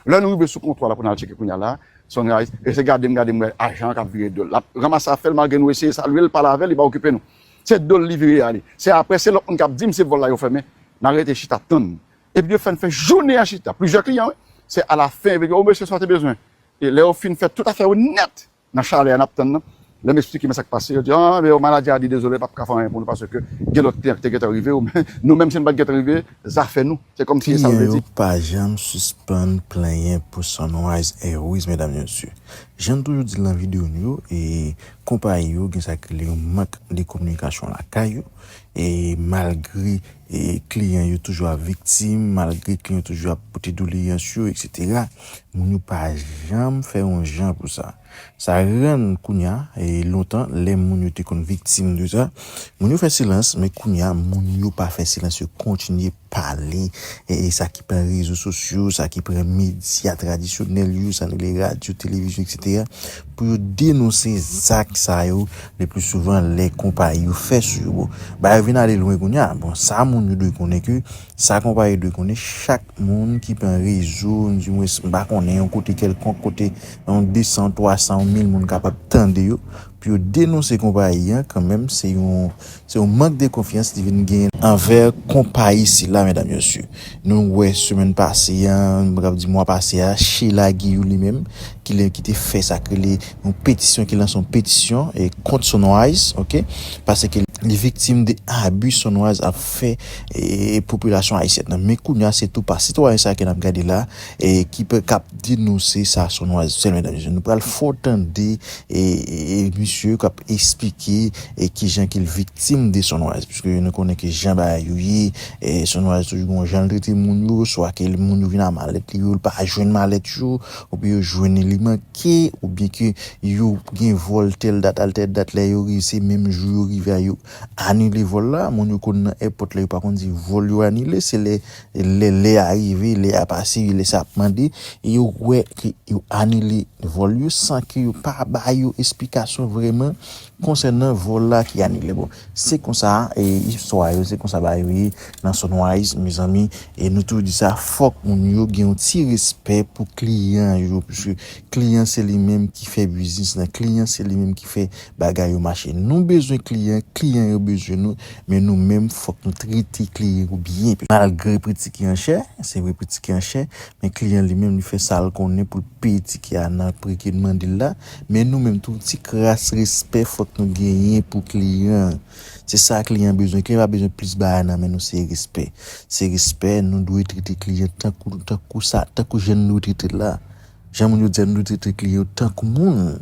Lè nou rive sou kontwa la pou nal tcheke kounya la Sunrise e se gadem gadem wè ajan an kap vire dol lap ranmase afèl malgre nou eseye salyel pale avèl li pa okipe nou se dol li vire ale se aprè se lòt moun kap dim se vòl la yo fèmen nan rete chita tann epi yo fèn fè jounen an chita plizyè kliyan wi se alafen yo vin di o mesye sa ou te bezwen e lè yo fin fè tout afè yo nèt Nan chalè a nap tann nan. Lèm esplike men sak pase yo di ah men yo maladi a di dezole pap ka fè anyen pou nou paske gen lòt kliyan ki te gentan rive yo men nou menm si nou pat gentan rive zafè nou se kòmsi esal vle di. Kliyan yo pa janm sispann plenyen pou Sunrise Airways medam e mesye. Janm toujou dil nan video nou yo e konpayi yo gen sa ki rele yon mank de kominikasyon lakay yo E malgre kliyan yo toujou ap viktim, malgre kliyan yo toujou ap pote doleyans yo eksetera, moun yo pa janm fè yon jan pou sa. Sa rann kounya, lontan lè moun yo te konn viktim de sa, moun yo fè silans men kounya moun yo pa fè silans yo kontinye pale, sa ki pran rezo sosyo, sa ki pran medya tradisyonèl yo, sa nou rele radyo, televizyon, eksetera, pou yo denonse zak sa yo le pli souvan lè konpayi yo fè sou yo. Bon, bagay yo vin ale lwen kounye a. Bon, sa moun yo dwe konnen ke, sa konpayi yo dwe konnen, chak moun ki pran rezo, di mwens m pa konnen, yon kote kèlkonk kote, yon 200, 300, yon 1000 moun kapab tande yo, Pou yo denonse konpayi an kanmenm se yon se yon mank de konfyans li vin gen anvè konpayi sila medam yo si nou wè semèn pase a m paka di mwa pase a Sheila Guilloux li menm ki le ki te fè sak rele yon petisyon ki lanse yon petisyon kont Sunrise ok paseke li viktim de abu Sunrise ap fè popilasyon ayisyèn nan men kounya se tou pa sitwayen sa ke nap gade la. e ki pe kap denose sa son nwa zel medam mesye nou pral fo tande e misye kap esplike e kijan ki l viktim de son nwa pske nou konnen ke jan bagay yo ye e son nwa toujou gon jan l trete moun yo swa ke l moun yo vin a malèt li yo l pa jwenn malèt yo ou byen yo jwenn li manke ou byen ke yo gen vol tèl dat al tèl dat lè yo rive se menm jou yo rive a yo anile vol la moun yo konn nan èpòt la yo pa konn di vol yo anile se lè Lè lè a rive, lè a pase, lè sa ap mande, e yo wè ke yo anile vòl yo san ke yo pa ba yo esplikasyon vrèman konsènan vòl la ki anile. Bon, se konsa e istwa yo, se konsa bagay yo ye nan Sunrise mezanmi. E nou toujou di sa, fòk moun yo gen yon ti respè pou kliyan yo, puiske kliyan se li menm ki fè biznis lan, kliyan se li menm ki fè Bagay yo mache nou bezwen kliyan kliyan yo bezwen nou men nou menm fòk nou trete kliyen yo byen malgre pri tike an chè se vre pri tike an chè men kliyan li menm li fè sal konnen poul peye tike a nan pri ke n mandel la men nou menm tou ti kras respè fòk nou genyen pou kliyan se sa kliyan bezwen kliyan pa bezwen plis bagay nan men nou se respè se respè nou dwe trete kliyan tankou tankou sa tankou jan nou dwe tretel la jan moun yo di a nou dwe trete kliyan yo tankou moun.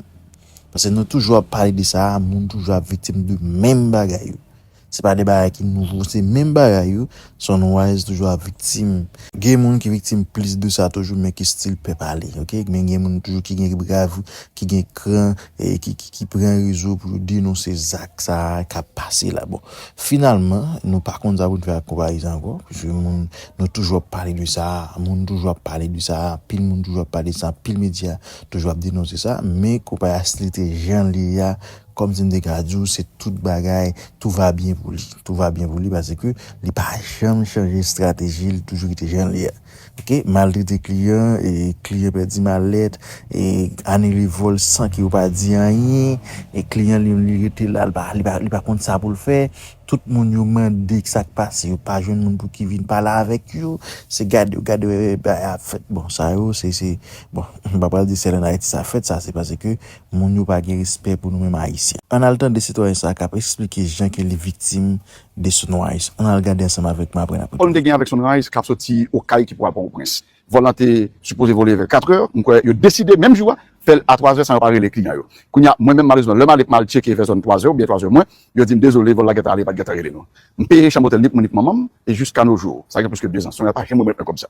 Paske nou toujou ap pale de sa, moun toujou ap viktim de menm bagay yo. Se pa de bagay ki nouvo, se menm bagay yo, Sunrise toujou ap viktim. Gen moun ki viktim plis de sa toujou men ki stil pè pale ok, men gen moun toujou ki gen bravou, ki gen kran, ki pran rezo pou yo denonse zak sa k ap pase la. Bon, finalman, nou pa konn sa pou n fè ak konpayi sa ankò, paske moun, nou toujou ap pale de sa, moun toujou ap pale de sa, anpil moun toujou ap pale de sa, anpil medya toujou ap denonse sa, men konpay Aslite jan li ye a, kòm si m te ka di w se tout bagay, tout va bien pou li. Tout va bien pou li paske li pa janm chanje estrateji, li toujou rete jan li ye a. Ok, maltrete kliyan, kliyan pèdi malèt, anile vòl san ke yo pa di anyen, kliyan li menm li rete la, li pa konn sa pou l fè. Tout moun yo mande kisa k pase yo pa jwenn moun pou ki vin pale avèk yo, se gade yo gade yo epi bagay ap fèt bon sa yo se se bon m pa pral di sèl an Ayiti sa fèt sa se paske moun yo pa gen respè pou nou menm Ayisyen. Ann al tande sitwayen sa a k ap esplike jan ke li viktim de Sunrise, ann al gade ansanm avèk m apre n ap retou. Kòl m te gen avèk Sunrise k ap soti Okay ki pral Pòtoprens. Vòl lan te sipoze vole vè 4 è, m kwè yo deside menm jou a fè l a 3 è san yo pa rele kliyan yo. Kounye a mwen menm malezman lè m ale pou m al tcheke vè zòn 3 è oubyen 3 è mwen, yo di m dezole vòl la gentan ale pat gentan rele nou. M peye chanm otèl ni pou mwen ni pou manman m e jiska no jou, sa gen plis ke 2 zan, Sonrayz pa janm remèt mwen kòb sa.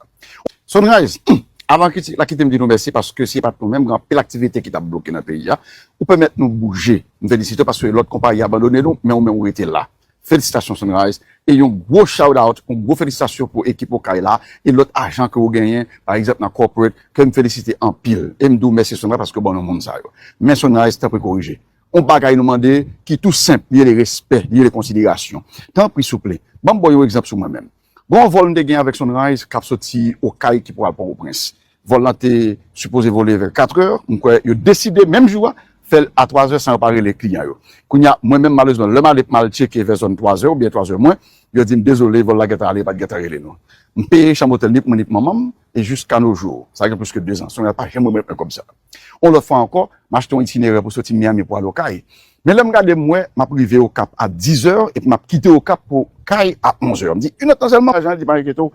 Sonrayz, Humm! Avan kite la kite m di nou mèsi paske si e pat nou menm gen anpil aktivite ki tap bloke nan peyi a, ou pèmèt nou bouje. M felisite w paske lòt konpayi abandone nou men ou menm ou rete la. Felisitasyon Sunrise e yon gwo shout out yon gwo felisitasyon pou ekip okay la e lòt ajan ke ou genyen pa egzanp nan corporate ke m felisite anpil e m di w mèsi Sunrise paske ou ban nou moun sa yo men Sunrise tanpri korije yon bagay nou mande ki tou senp li rele respè li rele konsiderasyon tanpri souple banm baw yon egzanp sou mwen menm Gen yon vòl m te gen avèk Sunrise k ap soti Okay ki pou al Pòtoprens. Vòl lan te sipoze vole vè katrè, m kwè yo deside menm jou a fè l a twazè san yo pa rele kliyan yo. Kounye a, mwen menm malerezman lè m ale pou m al tcheke vè zòn twazè oubyen twazè mwen, yo di m dezole vòl la gentan ale yo pa t gentan rele nou. M peye chanm otèl ni pou mwen ni pou manman m e jiska no jou, sa gen plis ke dezan, Sunrise pa janm remèt mwen kòb sa a. Yon lòt fwa ankò, m achte yon itinerè pou soti Miami pou al Okay. Men lè m gade, m wè m ap rive Okap a dizè epi m ap kite Okap pou Okay a onzè. M di, inèt tan sèlman? Ajan an di, pa enkyete w,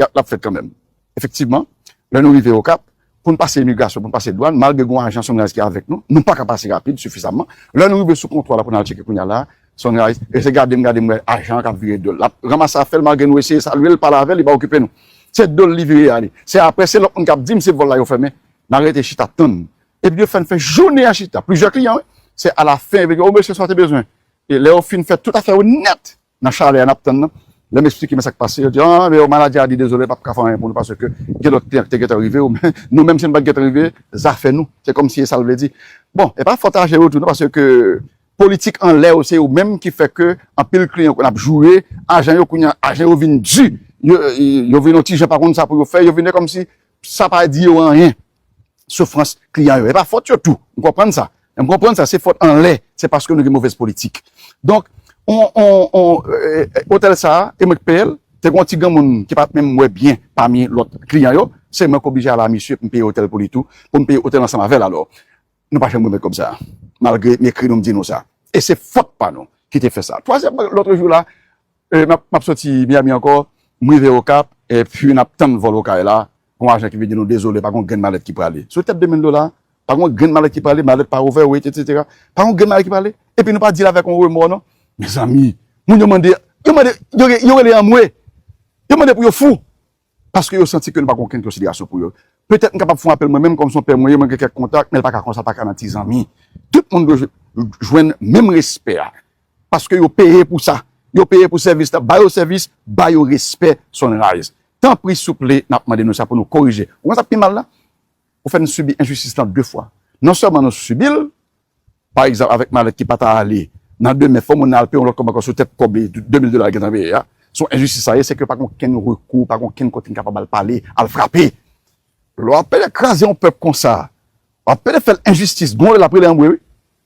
l ap fèt kanmenm. Efektivman, lè nou rive Okap, pou n pase imigrasyon, pou n pase dwàn, malgre gen yon ajan Sunrise ki avèk nou, nou pa ka pase rapid sifizamman. Lè nou rive sou kontwa la pou n al tcheke kounya la a, Sunrise rete gade m, gade m, m wè ajan an k ap vire do l. L ap ranmase afè l malgre nou eseye salye l, pale avè l, li pa okipe nou. Se do l li vire ale. Se aprè, se lòt moun k ap di m se vòl la yo fèmen, Nan rete chita tann. Epi yo fè n fè jounen an chita. Plizyè kliyan wi. Se alafen yo vin di, o mesye sa w te bezwen. E lè yo fin fè tout afè yo nèt nan chalè a n ap tann nan, lè m esplike men sa k pase, yo di, an men yo manadjè a di dezole l pa p ka fè anyen pou nou paske gen lòt kliyan ki te gentan rive yo men nou menm si nou pa t gentan rive zafè nou. Se kòmsi e sa l vle di. Bon, e pa fòt aje yo tou non paske politik anlè yo se yo menm ki fè ke anpil kliyan konn ap joure ajan yo kounye a ajan yo vin di yo vin yon ti jan pa konn sa pou yo fè yo vin e kòmsi Sa pa di yo anyen. Soufrans kliyan yo. E pa fòt yo tou. M konprann sa. M konprann sa. Se fòt anlè. Se paske nou gen movèz politik. Donk, on, on, on, eh, otèl sa a, e mwen k peye l, te gen yon ti granmoun ki pa t menm wè byen pami lòt kliyan yo. Se mwen k oblije ale a misye pou m peye otèl pou li tou. Pou m peye otèl ansanm avè l alò. Nou pa janm remèt kòb sa a, malgre m ekri nou, m di nou sa. E se fòt pa nou ki te fè sa. Twazyèmman, lòtre jou la, m ap soti Miyami ankò, m rive Okap, epi n ap tann vòl Okay la, gen yon ajan ki vin di nou, dezole, pa gen yon grenn malèt ki prale. Sou tèt de mil dola, pa gen yon grenn malèt ki prale, malèt pa ouvè, wete, etsetera. Pa gen yon grenn malèt ki prale. Epi nou pa di l avèk yon remò non. Mezanmi! Moun yo mande, yo mande, yo rele anmwe! Yo mande pou yo fou! Paske yo santi ke nou pa gen okenn konsiderasyon pou yo. Petèt m kapab fè yon apèl mwen menm, kòm se yon pè mwen ye, mwen gen kèk kontak, men l pa ka konsa, l pa ka nan ti zanmi. Tout moun dwe jwenn menm respè a. Paske yo peye pou sa. Yo peye pou sèvis la. Ba yo sèvis, ba yo respè Sunrise. Tanpri souple, n ap mande nou sa pou nou korije. Ou konn sa k pi mal la? Ou fè n sibi enjistis lan de fwa. Non sèlman nou sibi l, Pa egzanp avèk malèt ki pa ta ale nan demen fò moun nan al peye yon lòt kòb ankò sou tèt kòb 2000 dola li gentan peye a. Se yon enjistis sa ye, sèke yo pa gen okenn rekou, pa gen okenn kote n kapab al pale, al frape. Lè w ap pede kraze yon pèp konsa, w ap pede fè l enjistis, gonfle l ap rele anmwe wi.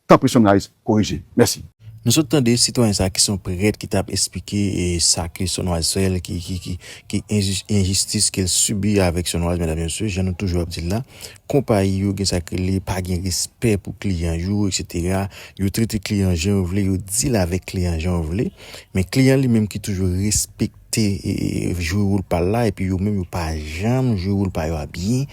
Tanpri Sunrise korije. Mèsi. Nou sot tande sitwayen sa ki se yon prèt ki tap esplike sa ke Sonwaz fè l ki ki ki ki enjistis ke l sibi avèk Sonwaz medam e mesye jan nou toujou ap di l la konpayi yo gen sa k rele pa gen respè pou kliyan yo eksetera yo trete kliyan jan yo vle yo dil avèk kliyan jan yo vle men kliyan li menm ki toujou respek. te jwe wol pal la epi yo menm yo pa janm jwe wol pa yo a byen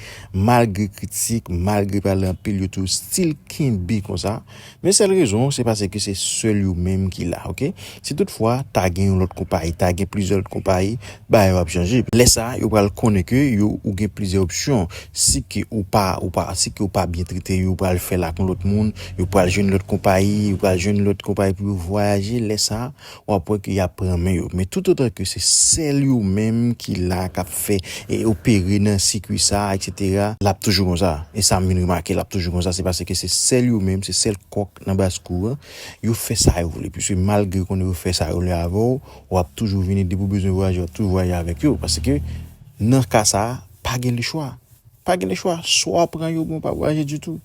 malgre kritik malgre pale anpil yo toujou stil kenbe konsa men sèl rezon se paseke se sèl yo menm ki la ok si tout fwa ta gen yon lòt konpayi ta gen plizyè lòt konpayi bagay yo ap chanje lè sa yo pral konnen ke yo ou gen plizyè opsyon si ke ou pa ou pa si ke ou pa byen trete yo pral fèl ak yon lòt moun yo pral jwenn lòt konpayi yo pral jwenn lòt konpayi pou yo vwayaje lè sa. w ap wè ke y ap pran men yo. Men toutotan ke se sèl yo menm ki la, k ap fè e opere nan sikui sa a eksetera, l ap toujou konsa. E sa m vin remake, l ap toujou konsa, se paske se sèl yo menm, se sèl kòk nan baskou an, yo fè sa yo vle. Piske malgre konnen yo fè sa yo vle avè w, w ap toujou vini, depi w bezwen vwayaje, w ap toujou vwayaje avèk yo. Paske nan ka sa a, pa gen lechwa. Pa gen lechwa, swa w pran yo oubyen w pa vwayaje ditou.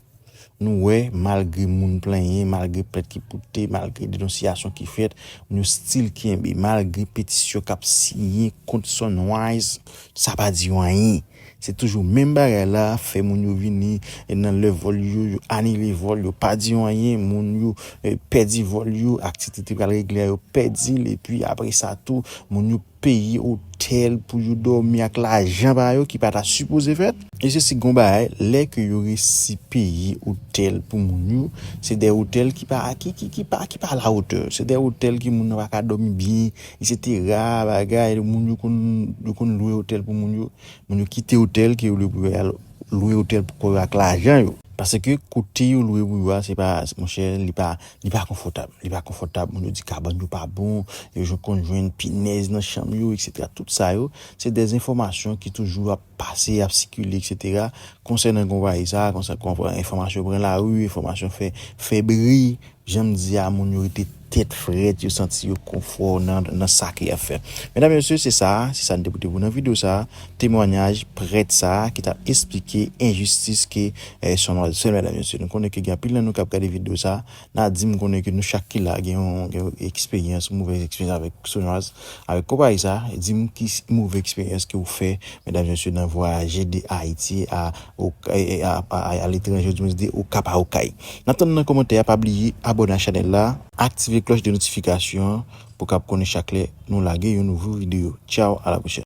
Nou wè, malgre moun plenyen, malgre plent ki pote, malgre denonsiyasyon ki fèt, moun yo stil kenbe. Malgre petisyon k ap siyen kont Sunrise, sa pa di yo anyen. Se toujou menm bagay la, fè moun yo vini nan lè vòl yo, yo anile vòl, yo pa di yo anyen. Moun yo pèdi vòl yo, aktivite ki pral regle a yo pèdi l. Epi apre sa tou, moun yo peye otèl pou yo dòmi ak lajan pa yo ki pa ta sipoze fèt. E se si gon bagay, lè ke yo resi peye otèl pou moun yo, se de otèl ki pa ki ki ki pa ki pa alawotè, se de otèl ke moun nan pa ka dòmi byen, esetera, bagay, moun yo konn yo konn lwe otèl pou moun yo, moun yo kite otèl ke yo lwe pou yo al lwe otèl pou kò yo ak lajan yo. Paske kote yo lwe pou yo a se pa monchè li pa Li pa konfòtab, li pa konfòtab, moun yo di kabann yo pa bon, yo jwenn konn jwenn pinèz nan chanm yo eksetera tout sa yo se dè enfòmasyon ki toujou ap pase ap sikile eksetera konsènan konpayi sa konsènan enfòmasyon pran lari enfòmasyon fè fè bri janm di a moun yo rete tèt frèt yo santi yo konfò nan sa ke yap fè medam mesye se sa se sa nou te pote pou nou nan video sa. Temwanyaj prèt sa a ki t ap esplike enjistis ke son an sèl mèdam yo sitou. M konnen ke gen anpil nan nou k ap gade videyo sa a, n a di m konnen ke nou chak ki la a gen yon eksperyans, movèz eksperyans avèk Sonwaz, avèk konpayi sa a. Di m ki move eksperyans ke ou fè mèdam yo sitou nan vwayaje de Ayiti a Okay, a letranje ou di mwens de Okap a Okay. N ap tann nan komantè a, pa bliye abòne ak chanèl la. Aktive klòch de notifikasyon an pou w kab konnen chak lè nou lage yon nouvo videyo. Tchaw, a la pwochèn.